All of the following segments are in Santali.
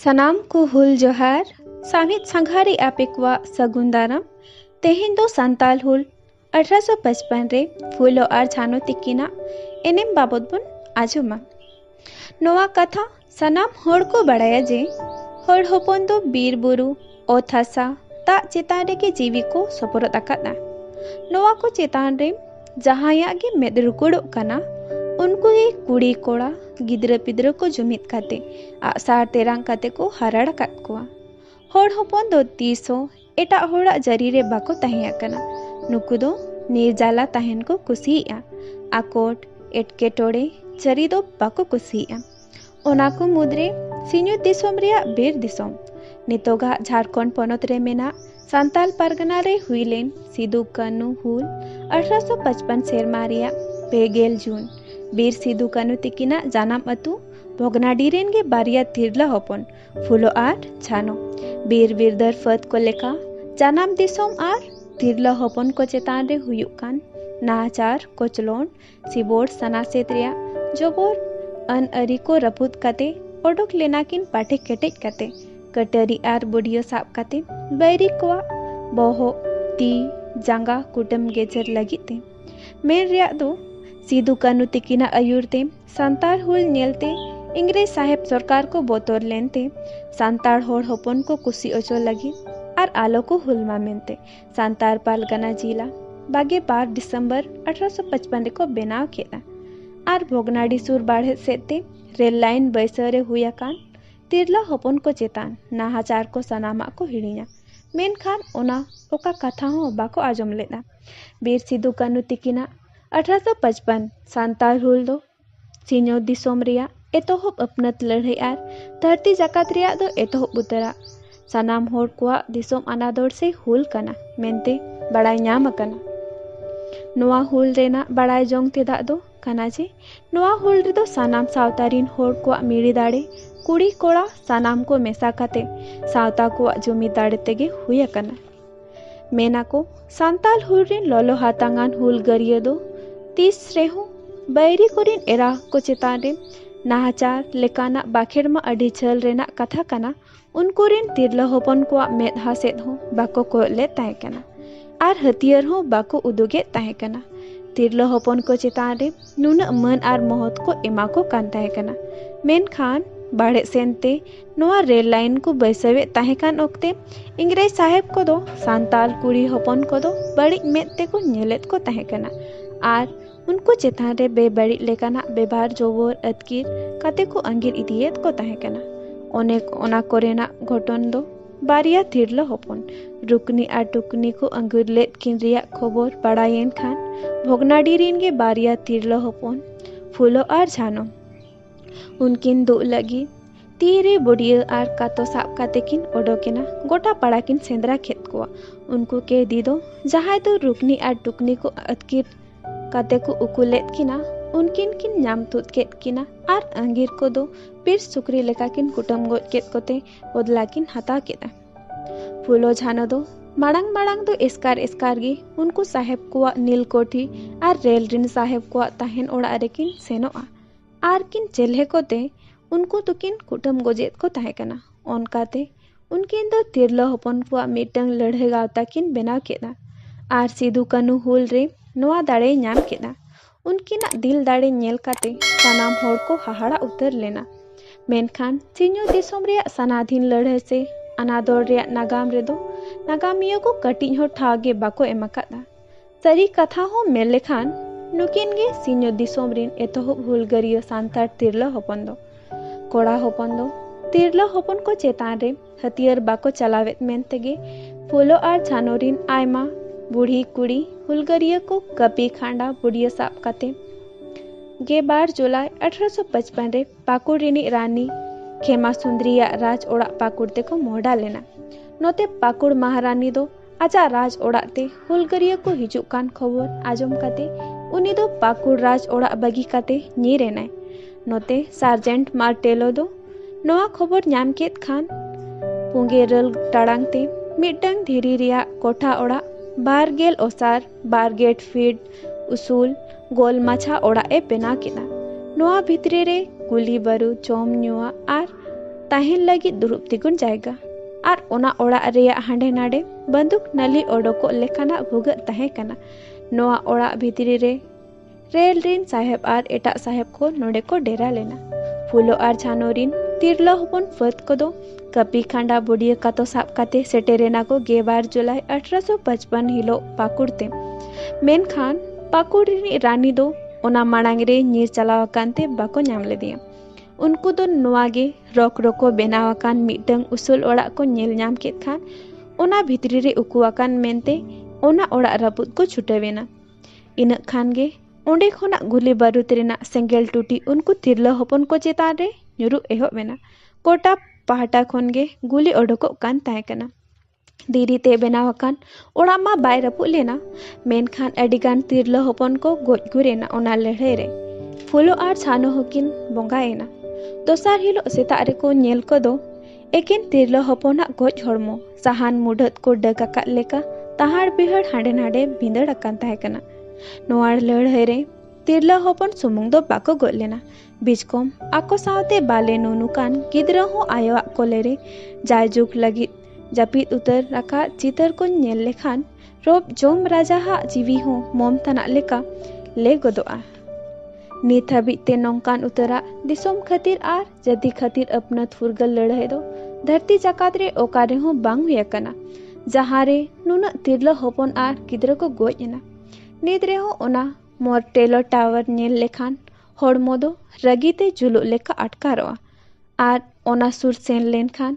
ᱥᱟᱱᱟᱢ ᱠᱚ ᱦᱩᱞ ᱡᱚᱦᱟᱨ ᱥᱟᱶᱦᱮᱫ ᱥᱟᱸᱜᱷᱟᱨᱤ ᱟᱯᱮ ᱠᱚᱣᱟᱜ ᱥᱟᱹᱜᱩᱱ ᱫᱟᱨᱟᱢ ᱛᱮᱦᱮᱧ ᱫᱚ ᱥᱟᱱᱛᱟᱲ ᱦᱩᱞ ᱟᱴᱷᱨᱚᱥᱚ ᱯᱟᱸᱪᱯᱟᱱ ᱨᱮ ᱯᱷᱩᱞᱚ ᱟᱨ ᱡᱷᱟᱱᱚ ᱛᱤᱠᱤᱱᱟᱜ ᱮᱱᱮᱢ ᱵᱟᱵᱚᱫ ᱵᱚᱱ ᱟᱸᱡᱚᱢᱟ ᱱᱚᱣᱟ ᱠᱟᱛᱷᱟ ᱥᱟᱱᱟᱢ ᱦᱚᱲ ᱠᱚ ᱵᱟᱲᱟᱭᱟ ᱡᱮ ᱦᱚᱲ ᱦᱚᱯᱚᱱ ᱫᱚ ᱵᱤᱨ ᱵᱩᱨᱩ, ᱚᱛ ᱦᱟᱥᱟ, ᱫᱟᱜ ᱪᱮᱛᱟᱱ ᱨᱮᱜᱮ ᱡᱤᱣᱤ ᱠᱚ ᱥᱚᱯᱚᱨᱚᱫ ᱟᱠᱟᱫᱼᱟ᱾ ᱱᱚᱣᱟ ᱠᱚ ᱪᱮᱛᱟᱱ ᱨᱮ ᱡᱟᱦᱟᱸᱭᱟᱜ ᱜᱮ ᱢᱮᱫ ᱨᱩᱠᱩᱲᱚᱜ ᱠᱟᱱᱟ, ᱩᱱᱠᱩ ᱜᱮ ᱠᱩᱲᱤ ᱠᱚᱲᱟ, ᱜᱤᱫᱽᱨᱟᱹ ᱯᱤᱫᱽᱨᱟᱹ ᱠᱚ ᱡᱩᱢᱤᱫ ᱠᱟᱛᱮ ᱟᱜᱼᱥᱟᱨ ᱛᱮᱨᱟᱝ ᱠᱟᱛᱮ ᱠᱚ ᱦᱟᱨᱟᱲ ᱟᱠᱟᱫ ᱠᱚᱣᱟ᱾ ᱦᱚᱲ ᱦᱚᱯᱚᱱ ᱫᱚ ᱛᱤᱥ ᱦᱚᱸ ᱮᱴᱟᱜ ᱦᱚᱲᱟᱜ ᱡᱟᱹᱨᱤ ᱨᱮ ᱵᱟᱠᱚ ᱛᱟᱦᱮᱸ ᱟᱠᱟᱱᱟ ᱱᱩᱠᱩ ᱫᱚ ᱱᱤᱨᱡᱟᱞᱟ ᱛᱟᱦᱮᱱ ᱠᱚ ᱠᱩᱥᱤᱭᱟᱜᱼᱟ ᱟᱠᱚᱴ ᱮᱴᱠᱮᱴᱚᱬᱮ ᱡᱟᱹᱨᱤ ᱫᱚ ᱵᱟᱠᱚ ᱠᱩᱥᱤᱭᱟᱜᱼᱟ ᱚᱱᱟ ᱠᱚ ᱢᱩᱫᱽᱨᱮ ᱥᱤᱧᱚᱛ ᱫᱤᱥᱚᱢ ᱨᱮᱭᱟᱜ ᱵᱤᱨ ᱫᱤᱥᱚᱢ ᱱᱤᱛᱚᱜᱟᱜ ᱡᱷᱟᱲᱠᱷᱚᱸᱰ ᱯᱚᱱᱚᱛ ᱨᱮ ᱢᱮᱱᱟᱜ ᱥᱟᱱᱛᱟᱞ ᱯᱟᱨᱜᱟᱱᱟ ᱨᱮ ᱦᱩᱭ ᱞᱮᱱ ᱥᱤᱫᱩ ᱠᱟᱹᱱᱩ ᱦᱩᱞ ᱟᱴᱷᱨᱚᱥᱚ ᱯᱟᱸᱪᱯᱟᱱ ᱥᱮᱨᱢᱟ ᱨᱮᱭᱟᱜ ᱯᱮ ᱜᱮᱞ ᱡᱩᱱ ᱵᱤᱨ ᱥᱤᱫᱩ ᱠᱟᱹᱱᱩ ᱛᱤᱠᱤᱱᱟᱜ ᱡᱟᱱᱟᱢ ᱟᱹᱛᱩ ᱵᱷᱚᱜᱽᱱᱟᱰᱤ ᱨᱮᱱ ᱜᱮ ᱵᱟᱨᱭᱟ ᱛᱤᱨᱞᱟᱹ ᱦᱚᱯᱚᱱ ᱯᱷᱩᱞᱚ ᱟᱨ ᱪᱷᱟᱱᱚ ᱵᱤᱨ ᱵᱤᱨᱫᱟᱹᱨ ᱯᱷᱟᱹᱫ ᱠᱚ ᱞᱮᱠᱟ ᱡᱟᱱᱟᱢ ᱫᱤᱥᱚᱢ ᱟᱨ ᱛᱤᱨᱞᱟᱹ ᱦᱚᱯᱚᱱ ᱠᱚ ᱪᱮᱛᱟᱱ ᱨᱮ ᱦᱩᱭᱩᱜ ᱠᱟᱱ ᱱᱟᱦᱟᱪᱟᱨ ᱠᱚᱪᱞᱚᱱ ᱥᱤᱵᱚᱲ ᱥᱟᱱᱟᱥᱮᱫ ᱨᱮᱭᱟᱜ ᱡᱚᱵᱚᱨ ᱟᱹᱱ ᱟᱹᱨᱤ ᱠᱚ ᱨᱟᱹᱯᱩᱫ ᱠᱟᱛᱮ ᱚᱰᱚᱠ ᱞᱮᱱᱟ ᱠᱤᱱ ᱯᱟᱴᱷᱮ ᱠᱮᱴᱮᱡ ᱠᱟᱛᱮ ᱠᱟᱹᱴᱟᱹᱨᱤ ᱟᱨ ᱵᱩᱰᱤᱭᱟᱹ ᱥᱟᱵ ᱠᱟᱛᱮ ᱵᱟᱹᱭᱨᱤ ᱠᱚᱣᱟᱜ ᱵᱚᱦᱚᱜ ᱛᱤ ᱡᱟᱸᱜᱟ ᱠᱩᱴᱟᱹᱢ ᱜᱮᱡᱮᱨ ᱞᱟᱹᱜᱤᱫ ᱛᱮ ᱢᱮᱱ ᱨᱮᱭᱟᱜ ᱫᱚ ᱥᱤᱫᱩ ᱠᱟᱹᱱᱩ ᱛᱤᱠᱤᱱᱟᱜ ᱟᱹᱭᱩᱨ ᱛᱮ ᱥᱟᱱᱛᱟᱲ ᱦᱩᱞ ᱧᱮᱞᱛᱮ ᱤᱝᱨᱮᱡᱽ ᱥᱟᱦᱮᱵᱽ ᱥᱚᱨᱠᱟᱨ ᱠᱚ ᱵᱚᱛᱚᱨ ᱞᱮᱱᱛᱮ ᱥᱟᱱᱛᱟᱲ ᱦᱚᱲ ᱦᱚᱯᱚᱱ ᱠᱚ ᱠᱩᱥᱤ ᱚᱪᱚ ᱞᱟᱹᱜᱤᱫ ᱟᱨ ᱟᱞᱚ ᱠᱚ ᱦᱩᱞ ᱢᱟ ᱢᱮᱱᱛᱮ ᱥᱟᱱᱛᱟᱲ ᱯᱟᱨᱜᱟᱱᱟ ᱡᱤᱞᱟ ᱵᱟᱜᱮ ᱵᱟᱨ ᱰᱤᱥᱮᱢᱵᱚᱨ ᱟᱴᱷᱨᱚᱥᱚ ᱯᱟᱸᱪᱯᱟᱱ ᱨᱮᱠᱚ ᱵᱮᱱᱟᱣ ᱠᱮᱫᱼᱟ ᱟᱨ ᱵᱷᱚᱜᱽᱱᱟᱰᱤ ᱥᱩᱨ ᱵᱟᱲᱦᱮᱫ ᱥᱮᱫ ᱛᱮ ᱨᱮᱞ ᱞᱟᱭᱤᱱ ᱵᱟᱹᱭᱥᱟᱹᱣ ᱨᱮ ᱦᱩᱭ ᱟᱠᱟᱱ ᱛᱤᱨᱞᱟᱹ ᱦᱚᱯᱚᱱ ᱠᱚ ᱪᱮᱛᱟᱱ ᱱᱟᱦᱟᱪᱟᱨ ᱠᱚ ᱥᱟᱱᱟᱢᱟᱜ ᱠᱚ ᱦᱤᱲᱤᱧᱟ ᱢᱮᱱᱠᱷᱟᱱ ᱚᱱᱟ ᱚᱠᱟ ᱠᱟᱛᱷᱟ ᱦᱚᱸ ᱵᱟᱠᱚ ᱟᱸᱡᱚᱢ ᱞᱮᱫᱼᱟ ᱵᱤᱨ ᱥᱤᱫᱩ ᱠᱟᱹᱱᱩ ᱛᱤᱠᱤᱱᱟᱜ ᱟᱴᱷᱨᱚᱥᱚ ᱯᱟᱸᱪᱯᱚᱱ ᱥᱟᱱᱛᱟᱲ ᱦᱩᱞ ᱫᱚ ᱥᱤᱧᱚᱛ ᱫᱤᱥᱚᱢ ᱨᱮᱭᱟᱜ ᱮᱛᱚᱦᱚᱵ ᱟᱹᱯᱱᱟᱹᱛ ᱞᱟᱹᱲᱦᱟᱹᱭ ᱟᱨ ᱫᱷᱟᱹᱨᱛᱤ ᱡᱟᱠᱟᱛ ᱨᱮᱭᱟᱜ ᱫᱚ ᱮᱛᱚᱦᱚᱵ ᱩᱛᱟᱹᱨᱟᱜ ᱥᱟᱱᱟᱢ ᱦᱚᱲ ᱠᱚᱣᱟᱜ ᱫᱤᱥᱚᱢ ᱟᱱᱟᱫᱚᱲ ᱥᱮ ᱦᱩᱞ ᱠᱟᱱᱟ ᱢᱮᱱᱛᱮ ᱵᱟᱲᱟᱭ ᱧᱟᱢ ᱟᱠᱟᱱᱟ ᱱᱚᱣᱟ ᱦᱩᱞ ᱨᱮᱱᱟᱜ ᱵᱟᱲᱟᱭ ᱡᱚᱝ ᱛᱮᱫᱟᱜ ᱫᱚ ᱠᱟᱱᱟ ᱡᱮ ᱱᱚᱣᱟ ᱦᱩᱞ ᱨᱮᱫᱚ ᱥᱟᱱᱟᱢ ᱥᱟᱶᱛᱟ ᱨᱤᱱ ᱦᱚᱲ ᱠᱚᱣᱟᱜ ᱢᱤᱲᱤ ᱫᱟᱲᱮ ᱠᱩᱲᱤ ᱠᱚᱲᱟ ᱥᱟᱱᱟᱢ ᱠᱚ ᱢᱮᱥᱟ ᱠᱟᱛᱮ ᱥᱟᱶᱛᱟ ᱠᱚᱣᱟᱜ ᱡᱩᱢᱤᱫ ᱫᱟᱲᱮ ᱛᱮᱜᱮ ᱦᱩᱭ ᱟᱠᱟᱱᱟ ᱢᱮᱱᱟᱠᱚ ᱥᱟᱱᱛᱟᱞ ᱦᱩᱞ ᱨᱤᱱ ᱞᱚᱞᱚ ᱦᱟᱛᱟᱝᱟᱱ ᱦᱩᱞᱜᱟᱹᱨᱤᱭᱟᱹ ᱫᱚ ᱛᱤᱥ ᱨᱮᱦᱚᱸ ᱵᱟᱭᱨᱤ ᱠᱚᱨᱤᱱ ᱮᱨᱟ ᱠᱚ ᱪᱮᱛᱟᱱ ᱨᱮ ᱱᱟᱦᱟᱪᱟᱨ ᱞᱮᱠᱟᱱᱟᱜ ᱵᱟᱠᱷᱮᱲ ᱢᱟ ᱟᱹᱰᱤ ᱡᱷᱟᱹᱞ ᱨᱮᱱᱟᱜ ᱠᱟᱛᱷᱟ ᱠᱟᱱᱟ ᱩᱱᱠᱩ ᱨᱤᱱ ᱛᱤᱨᱞᱟᱹ ᱦᱚᱯᱚᱱ ᱠᱚᱣᱟᱜ ᱢᱮᱫᱦᱟ ᱥᱮᱫ ᱦᱚᱸ ᱵᱟᱠᱚ ᱠᱚᱭᱚᱜ ᱞᱮᱫ ᱛᱟᱦᱮᱸ ᱠᱟᱱᱟ ᱟᱨ ᱦᱟᱹᱛᱭᱟᱹᱨ ᱦᱚᱸ ᱵᱟᱠᱚ ᱩᱫᱩᱜᱮᱫ ᱛᱟᱦᱮᱸ ᱠᱟᱱᱟ ᱛᱤᱨᱞᱟᱹ ᱦᱚᱯᱚᱱ ᱠᱚ ᱪᱮᱛᱟᱱ ᱨᱮ ᱱᱩᱱᱟᱹᱜ ᱢᱟᱹᱱ ᱟᱨ ᱢᱚᱦᱚᱛ ᱠᱚ ᱮᱢᱟ ᱠᱚ ᱠᱟᱱ ᱛᱟᱦᱮᱸ ᱠᱟᱱᱟ᱾ ᱢᱮᱱᱠᱷᱟᱱ ᱵᱟᱲᱮ ᱥᱮᱱ ᱛᱮ ᱱᱚᱣᱟ ᱨᱮᱞ ᱞᱟᱭᱤᱱ ᱠᱚ ᱵᱟᱹᱭᱥᱟᱹᱣᱮᱫ ᱛᱟᱦᱮᱸ ᱠᱟᱱ ᱚᱠᱛᱮ ᱤᱝᱨᱮᱡᱽ ᱥᱟᱦᱮᱵᱽ ᱠᱚᱫᱚ ᱥᱟᱱᱛᱟᱲ ᱠᱩᱲᱤ ᱦᱚᱯᱚᱱ ᱠᱚᱫᱚ ᱵᱟᱹᱲᱤᱡ ᱢᱮᱫ ᱛᱮ ᱠᱚ ᱧᱮᱞᱮᱫ ᱠᱚ ᱛᱟᱦᱮᱸ ᱠᱟᱱᱟ ᱟᱨ ᱩᱱᱠᱩ ᱪᱮᱛᱟᱱ ᱨᱮ ᱵᱮᱼᱵᱟᱹᱲᱤᱡ ᱞᱮᱠᱟᱱᱟᱜ ᱵᱮᱵᱷᱟᱨ ᱡᱚᱵᱚᱨ ᱟᱹᱛᱠᱤᱨ ᱠᱟᱛᱮ ᱠᱚ ᱟᱺᱜᱤᱨ ᱤᱫᱤᱭᱮᱫ ᱠᱚ ᱛᱟᱦᱮᱸ ᱠᱟᱱᱟ᱾ ᱚᱱᱮᱠ ᱚᱱᱟ ᱠᱚᱨᱮᱱᱟᱜ ᱜᱷᱚᱴᱚᱱ ᱫᱚ᱾ ᱵᱟᱨᱭᱟ ᱛᱤᱨᱞᱟᱹ ᱦᱚᱯᱚᱱ ᱨᱩᱠᱱᱤ ᱟᱨ ᱴᱩᱠᱱᱤ ᱠᱚ ᱟᱹᱜᱩᱨ ᱞᱮᱫ ᱠᱤᱱ ᱨᱮᱭᱟᱜ ᱠᱷᱚᱵᱚᱨ ᱵᱟᱲᱟᱭᱮᱱ ᱠᱷᱟᱱ ᱵᱷᱚᱜᱽᱱᱟᱰᱤ ᱨᱤᱱ ᱜᱮ ᱵᱟᱨᱭᱟ ᱛᱤᱨᱞᱟᱹ ᱦᱚᱯᱚᱱ ᱯᱷᱩᱞᱚ ᱟᱨ ᱡᱷᱟᱱᱚ ᱩᱱᱠᱤᱱ ᱫᱩᱜ ᱞᱟᱹᱜᱤᱫ ᱛᱤᱨᱮ ᱵᱩᱰᱤᱭᱟᱹ ᱟᱨ ᱠᱟᱛᱚ ᱥᱟᱵ ᱠᱟᱛᱮ ᱠᱤᱱ ᱚᱰᱚᱠᱮᱱᱟ ᱜᱚᱴᱟ ᱯᱟᱲᱟ ᱠᱤᱱ ᱥᱮᱸᱫᱽᱨᱟ ᱠᱮᱫ ᱠᱚᱣᱟ ᱩᱱᱠᱩ ᱠᱮᱭᱫᱤ ᱫᱚ ᱡᱟᱦᱟᱸᱭ ᱫᱚ ᱨᱩᱠᱱᱤ ᱟᱨ ᱴᱩᱠᱱᱤ ᱠᱚ ᱟᱹᱛᱠᱤᱨ ᱠᱟᱛᱮ ᱠᱚ ᱩᱠᱩ ᱞᱮᱫ ᱠᱤᱱᱟ ᱩᱱᱠᱤᱱ ᱠᱤᱱ ᱧᱟᱢ ᱛᱩᱫ ᱠᱮᱫ ᱠᱤᱱᱟ ᱟᱨ ᱟᱺᱜᱤᱨ ᱠᱚᱫᱚ ᱵᱤᱨ ᱥᱩᱠᱨᱤ ᱞᱮᱠᱟ ᱠᱤᱱ ᱠᱩᱴᱟᱹᱢ ᱜᱚᱡ ᱠᱮᱫ ᱠᱚᱛᱮ ᱵᱚᱫᱞᱟ ᱠᱤᱱ ᱦᱟᱛᱟᱣ ᱠᱮᱫᱟ ᱯᱷᱩᱞᱳ ᱡᱷᱟᱱᱚ ᱫᱚ ᱢᱟᱲᱟᱝ ᱢᱟᱲᱟᱝ ᱫᱚ ᱮᱥᱠᱟᱨ ᱮᱥᱠᱟᱨ ᱜᱮ ᱩᱱᱠᱩ ᱥᱟᱦᱮᱵ ᱠᱚᱣᱟᱜ ᱱᱤᱞ ᱠᱳᱴᱷᱤ ᱟᱨ ᱨᱮᱞ ᱨᱤᱱ ᱥᱟᱦᱮᱵ ᱠᱚᱣᱟᱜ ᱛᱟᱦᱮᱱ ᱚᱲᱟᱜ ᱨᱮᱠᱤᱱ ᱥᱮᱱᱚᱜᱼᱟ ᱟᱨ ᱠᱤᱱ ᱪᱮᱞᱦᱮ ᱠᱚᱛᱮ ᱩᱱᱠᱩ ᱫᱚᱠᱤᱱ ᱠᱩᱴᱟᱹᱢ ᱜᱚᱡᱮᱫ ᱠᱚ ᱛᱟᱦᱮᱸ ᱠᱟᱱᱟ ᱚᱱᱠᱟᱛᱮ ᱩᱱᱠᱤᱱ ᱫᱚ ᱛᱤᱨᱞᱟᱹ ᱦᱚᱯᱚᱱ ᱠᱚᱣᱟᱜ ᱢᱤᱫᱴᱟᱝ ᱞᱟᱹᱲᱦᱟᱹᱭ ᱜᱟᱶᱛᱟ ᱠᱤᱱ ᱵᱮᱱᱟᱣ ᱠᱮᱫᱟ ᱟᱨ ᱥᱤᱫᱩ ᱠᱟᱹᱱᱩ ᱦᱩᱞ ᱨᱮ ᱱᱚᱣᱟ ᱫᱟᱲᱮᱭ ᱧᱟᱢ ᱠᱮᱫᱟ ᱩᱱᱠᱤᱱᱟᱜ ᱫᱤᱞ ᱫᱟᱲᱮ ᱧᱮᱞ ᱠᱟᱛᱮ ᱥᱟᱱᱟᱢ ᱦᱚᱲ ᱠᱚ ᱦᱟᱦᱟᱲᱟ ᱩᱛᱟᱹᱨ ᱞᱮᱱᱟ᱾ ᱢᱮᱱᱠᱷᱟᱱ ᱥᱤᱧᱚᱛ ᱫᱤᱥᱚᱢ ᱨᱮᱭᱟᱜ ᱥᱟᱱᱟᱫᱷᱤᱱ ᱞᱟᱹᱲᱦᱟᱹᱭ ᱥᱮ ᱟᱱᱟᱫᱚᱨ ᱨᱮᱭᱟᱜ ᱱᱟᱜᱟᱢ ᱨᱮᱫᱚ ᱱᱟᱜᱟᱢᱤᱭᱟᱹ ᱠᱚ ᱠᱟᱹᱴᱤᱡ ᱦᱚᱸ ᱴᱷᱟᱶ ᱜᱮ ᱵᱟᱠᱚ ᱮᱢ ᱟᱠᱟᱫᱼᱟ᱾ ᱥᱟᱹᱨᱤ ᱠᱟᱛᱷᱟ ᱦᱚᱸ ᱢᱮᱱ ᱞᱮᱠᱷᱟᱱ ᱱᱩᱠᱤᱱ ᱜᱮ ᱥᱤᱧᱚᱛ ᱫᱤᱥᱚᱢ ᱨᱤᱱ ᱮᱛᱚᱦᱚᱵ ᱦᱩᱞᱜᱟᱹᱨᱤᱭᱟᱹ ᱥᱟᱱᱛᱟᱲ ᱛᱤᱨᱞᱟᱹ ᱦᱚᱯᱚᱱ ᱫᱚ᱾ ᱠᱚᱲᱟ ᱦᱚᱯᱚᱱ ᱫᱚ ᱛᱤᱨᱞᱟᱹ ᱦᱚᱯᱚᱱ ᱠᱚ ᱪᱮᱛᱟᱱ ᱨᱮ ᱦᱟᱹᱛᱭᱟᱹᱨ ᱵᱟᱠᱚ ᱪᱟᱞᱟᱣᱮᱫ ᱢᱮᱱ ᱛᱮᱜᱮ ᱯᱷᱩᱞᱚ ᱟᱨ ᱪᱷᱟᱱᱚ ᱨᱤᱱ ᱟᱭᱢᱟ ᱵᱩᱲᱦᱤ ᱠᱩᱲᱤ ᱦᱩᱞᱜᱟᱹᱨᱤᱭᱟᱹ ᱠᱚ ᱠᱟᱹᱯᱤ ᱠᱷᱟᱸᱰᱟ ᱵᱩᱰᱤᱭᱟᱹ ᱥᱟᱵ ᱠᱟᱛᱮ ᱜᱮ ᱵᱟᱨ ᱡᱩᱞᱟᱭ ᱟᱴᱷᱨᱚ ᱥᱚ ᱯᱟᱸᱪᱯᱟᱱ ᱨᱮ ᱯᱟᱹᱠᱩᱲ ᱨᱤᱱᱤᱡ ᱨᱟᱱᱤ ᱠᱷᱮᱢᱟ ᱥᱩᱱᱫᱨᱤᱭᱟᱜ ᱨᱟᱡᱽ ᱚᱲᱟᱜ ᱯᱟᱹᱠᱩᱲ ᱛᱮᱠᱚ ᱢᱚᱦᱰᱟ ᱞᱮᱱᱟ ᱱᱚᱛᱮ ᱯᱟᱹᱠᱩᱲ ᱢᱟᱦᱟᱨᱟᱱᱤ ᱫᱚ ᱟᱡᱟᱜ ᱨᱟᱡᱽ ᱚᱲᱟᱜ ᱛᱮ ᱦᱩᱞᱜᱟᱹᱨᱤᱭᱟᱹ ᱠᱚ ᱦᱤᱡᱩᱜ ᱠᱟᱱ ᱠᱷᱚᱵᱚᱨ ᱟᱸᱡᱚᱢ ᱠᱟᱛᱮ ᱩᱱᱤ ᱫᱚ ᱯᱟᱹᱠᱩᱲ ᱨᱟᱡᱽ ᱚᱲᱟᱜ ᱵᱟᱹᱜᱤ ᱠᱟᱛᱮ ᱧᱤᱨ ᱮᱱᱟᱭ ᱱᱚᱛᱮ ᱥᱟᱨᱡᱮᱱᱴ ᱢᱟᱨᱴᱮᱞᱳ ᱫᱚ ᱱᱚᱣᱟ ᱠᱷᱚᱵᱚᱨ ᱧᱟᱢ ᱠᱮᱫ ᱠᱷᱟᱱ ᱯᱩᱸᱜᱮ ᱨᱟᱹᱞ ᱴᱟᱲᱟᱝ ᱛᱮ ᱢᱤᱫᱴᱟᱝ ᱫᱷᱤᱨᱤ ᱨᱮᱭᱟᱜ ᱠᱚᱴᱷᱟ ᱚᱲᱟᱜ ᱵᱟᱨ ᱜᱮᱞ ᱚᱥᱟᱨ ᱵᱟᱨ ᱜᱮᱴ ᱯᱷᱤᱴ ᱩᱥᱩᱞ ᱜᱳᱞ ᱢᱟᱪᱷᱟ ᱚᱲᱟᱜ ᱮ ᱵᱮᱱᱟᱣ ᱠᱮᱫᱟ ᱱᱚᱣᱟ ᱵᱷᱤᱛᱨᱤ ᱨᱮ ᱠᱩᱞᱤ ᱵᱟᱹᱨᱩ ᱡᱚᱢ ᱧᱩᱣᱟᱜ ᱟᱨ ᱛᱟᱦᱮᱱ ᱞᱟᱹᱜᱤᱫ ᱫᱩᱲᱩᱵ ᱛᱤᱜᱩᱱ ᱡᱟᱭᱜᱟ ᱟᱨ ᱚᱱᱟ ᱚᱲᱟᱜ ᱨᱮᱭᱟᱜ ᱦᱟᱸᱰᱮ ᱱᱟᱰᱮ ᱵᱟᱹᱫᱩᱠ ᱱᱟᱹᱞᱤ ᱚᱰᱚᱠᱚᱜ ᱞᱮᱠᱟᱱᱟᱜ ᱵᱷᱩᱜᱟᱹᱜ ᱛᱟᱦᱮᱸ ᱠᱟᱱᱟ ᱱᱚᱣᱟ ᱚᱲᱟᱜ ᱵᱷᱤᱛᱨᱤ ᱨᱮ ᱨᱮᱞ ᱨᱤᱱ ᱥᱟᱦᱮᱵ ᱟᱨ ᱮᱴᱟᱜ ᱥᱟᱦᱮᱵ ᱠᱚ ᱱᱚᱰᱮ ᱠᱚ ᱰᱮᱨᱟ ᱞᱮᱱᱟ ᱯᱷᱩᱞᱚ ᱟᱨ ᱡᱷᱟᱱᱚ ᱨᱤᱱ ᱛᱤᱨᱞᱟᱹ ᱦᱚᱯᱚᱱ ᱯᱷᱟᱹᱫ ᱠᱚᱫᱚ ᱠᱟᱹᱯᱤ ᱠᱷᱟᱸᱰᱟ ᱵᱩᱰᱤᱭᱟᱹ ᱠᱟᱛᱚ ᱥᱟᱵ ᱠᱟᱛᱮ ᱥᱮᱴᱮᱨᱮᱱᱟ ᱠᱚ ᱜᱮᱵᱟᱨ ᱡᱩᱞᱟᱭ ᱟᱴᱷᱨᱚᱥᱚ ᱯᱟᱸᱪᱯᱟᱱ ᱦᱤᱞᱳᱜ ᱯᱟᱹᱠᱩᱲ ᱛᱮ ᱢᱮᱱᱠᱷᱟᱱ ᱯᱟᱹᱠᱩᱲ ᱨᱤᱱᱤᱡ ᱨᱟᱱᱤ ᱫᱚ ᱚᱱᱟ ᱢᱟᱲᱟᱝ ᱨᱮ ᱧᱤᱨ ᱪᱟᱞᱟᱣ ᱟᱠᱟᱱ ᱛᱮ ᱵᱟᱠᱚ ᱧᱟᱢ ᱞᱮᱫᱮᱭᱟ ᱩᱱᱠᱩ ᱫᱚ ᱱᱚᱣᱟ ᱜᱮ ᱨᱚᱠ ᱨᱚᱠᱚ ᱵᱮᱱᱟᱣ ᱟᱠᱟᱱ ᱢᱤᱫᱴᱟᱝ ᱩᱥᱩᱞ ᱚᱲᱟᱜ ᱠᱚ ᱧᱮᱞ ᱧᱟᱢ ᱠᱮᱫ ᱠᱷᱟᱱ ᱚᱱᱟ ᱵᱷᱤᱛᱨᱤ ᱨᱮ ᱩᱠᱩ ᱟᱠᱟᱱ ᱢᱮᱱᱛᱮ ᱚᱱᱟ ᱚᱲᱟᱜ ᱨᱟᱹᱯᱩᱫ ᱠᱚ ᱪᱷᱩᱴᱟᱹᱣ ᱮᱱᱟ ᱤᱱᱟᱹᱜ ᱠᱷᱟᱱ ᱜᱮ ᱚᱸᱰᱮ ᱠᱷᱚᱱᱟᱜ ᱜᱩᱞᱤ ᱵᱟᱹᱨᱩᱫ ᱨᱮᱱᱟᱜ ᱥᱮᱸᱜᱮᱞ ᱴᱩᱴᱤ ᱩᱱᱠᱩ ᱛᱤᱨᱞᱟᱹ ᱦᱚᱯᱚᱱ ᱠᱚ ᱪᱮᱛᱟᱱ ᱨᱮ ᱧᱩᱨᱩᱜ ᱮᱦᱚᱵ ᱮᱱᱟ ᱜᱚᱴᱟ ᱯᱟᱦᱴᱟ ᱠᱷᱚᱱ ᱜᱮ ᱜᱩᱞᱤ ᱚᱰᱚᱠᱚᱜ ᱠᱟᱱ ᱛᱟᱦᱮᱸ ᱠᱟᱱᱟ ᱫᱷᱤᱨᱤ ᱛᱮ ᱵᱮᱱᱟᱣ ᱟᱠᱟᱱ ᱚᱲᱟᱜ ᱢᱟ ᱵᱟᱭ ᱨᱟᱹᱯᱩᱫ ᱞᱮᱱᱟ ᱢᱮᱱᱠᱷᱟᱱ ᱟᱹᱰᱤᱜᱟᱱ ᱛᱤᱨᱞᱟᱹ ᱦᱚᱯᱚᱱ ᱠᱚ ᱜᱚᱡ ᱜᱩᱨ ᱮᱱᱟ ᱚᱱᱟ ᱞᱟᱹᱲᱦᱟᱹᱭ ᱨᱮ ᱯᱷᱩᱞᱳ ᱟᱨ ᱪᱷᱟᱱᱳ ᱦᱚᱸᱠᱤᱱ ᱵᱚᱸᱜᱟ ᱮᱱᱟ ᱫᱚᱥᱟᱨ ᱦᱤᱞᱳᱜ ᱥᱮᱛᱟᱜ ᱨᱮᱠᱚ ᱧᱮᱞ ᱠᱚᱫᱚ ᱮᱠᱮᱱ ᱛᱤᱨᱞᱟᱹ ᱦᱚᱯᱚᱱᱟᱜ ᱜᱚᱡ ᱦᱚᱲᱢᱚ ᱥᱟᱦᱟᱱ ᱢᱩᱰᱷᱟᱹᱫ ᱠᱚ ᱰᱟᱹᱠ ᱟᱠᱟᱫ ᱞᱮᱠᱟ ᱛᱟᱦᱟᱲ ᱵᱤᱦᱟᱹᱲ ᱦᱟᱸᱰᱮ ᱱᱟᱰᱮ ᱵᱷᱤᱸᱫᱟᱹᱲ ᱟᱠᱟᱱ ᱛᱟᱦᱮᱸ ᱠᱟᱱᱟ ᱱᱚᱣᱟ ᱞᱟᱹᱲᱦᱟᱹᱭ ᱨᱮ ᱛᱤᱨᱞᱟᱹ ᱦᱚᱯᱚᱱ ᱥᱩᱢᱩᱝ ᱫᱚ ᱵᱟᱠᱚ ᱜᱚᱡ ᱞᱮᱱᱟ ᱵᱤᱡᱠᱚᱢ ᱟᱠᱚ ᱥᱟᱶᱛᱮ ᱵᱟᱞᱮ ᱱᱩᱱᱩᱠᱟᱱ ᱜᱤᱫᱽᱨᱟᱹ ᱦᱚᱸ ᱟᱭᱚᱣᱟᱜ ᱠᱚᱞᱮᱨᱮ ᱡᱟᱭᱡᱩᱜᱽ ᱞᱟᱹᱜᱤᱫ ᱡᱟᱹᱯᱤᱫ ᱩᱛᱟᱹᱨ ᱟᱠᱟᱫ ᱪᱤᱛᱟᱹᱨ ᱠᱚᱧ ᱧᱮᱞ ᱞᱮᱠᱷᱟᱱ ᱨᱚᱵ ᱡᱚᱢ ᱨᱟᱡᱟᱦᱟᱜ ᱡᱤᱣᱤ ᱦᱚᱸ ᱢᱚᱢ ᱛᱟᱱᱟᱜ ᱞᱮᱠᱟ ᱞᱮ ᱜᱚᱫᱚᱜᱼᱟ ᱱᱤᱛ ᱦᱟᱹᱵᱤᱡ ᱛᱮ ᱱᱚᱝᱠᱟᱱ ᱩᱛᱟᱹᱨᱟᱜ ᱫᱤᱥᱚᱢ ᱠᱷᱟᱹᱛᱤᱨ ᱟᱨ ᱡᱟᱹᱛᱤ ᱠᱷᱟᱹᱛᱤᱨ ᱟᱹᱯᱱᱟᱹᱛ ᱯᱷᱩᱨᱜᱟᱹᱞ ᱞᱟᱹᱲᱦᱟᱹᱭ ᱫᱚ ᱫᱷᱟᱹᱨᱛᱤ ᱡᱟᱠᱟᱛ ᱨᱮ ᱚᱠᱟ ᱨᱮᱦᱚᱸ ᱵᱟᱝ ᱦᱩᱭ ᱟᱠᱟᱱᱟ ᱡᱟᱦᱟᱸ ᱨᱮ ᱱᱩᱱᱟᱹᱜ ᱛᱤᱨᱞᱟᱹ ᱦᱚᱯᱚᱱ ᱟᱨ ᱜᱤᱫᱽᱨᱟᱹ ᱠᱚ ᱜᱚᱡ ᱮᱱᱟ ᱱᱤᱛ ᱨᱮᱦᱚᱸ ᱚᱱᱟ ᱢᱚᱨᱴᱮᱞᱚ ᱴᱟᱣᱟᱨ ᱧᱮᱞ ᱞᱮᱠᱷᱟᱱ ᱦᱚᱲᱢᱚ ᱫᱚ ᱨᱟᱹᱜᱤ ᱛᱮ ᱡᱩᱞᱩᱜ ᱞᱮᱠᱟ ᱟᱴᱠᱟᱨᱚᱜᱼᱟ ᱟᱨ ᱚᱱᱟ ᱥᱩᱨ ᱥᱮᱱ ᱞᱮᱱᱠᱷᱟᱱ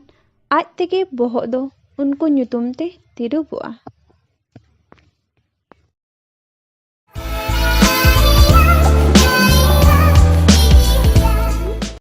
ᱟᱡ ᱛᱮᱜᱮ ᱵᱚᱦᱚᱜ ᱫᱚ ᱩᱱᱠᱩ ᱧᱩᱛᱩᱢ ᱛᱮ ᱛᱤᱨᱩᱵᱚᱜᱼᱟ᱾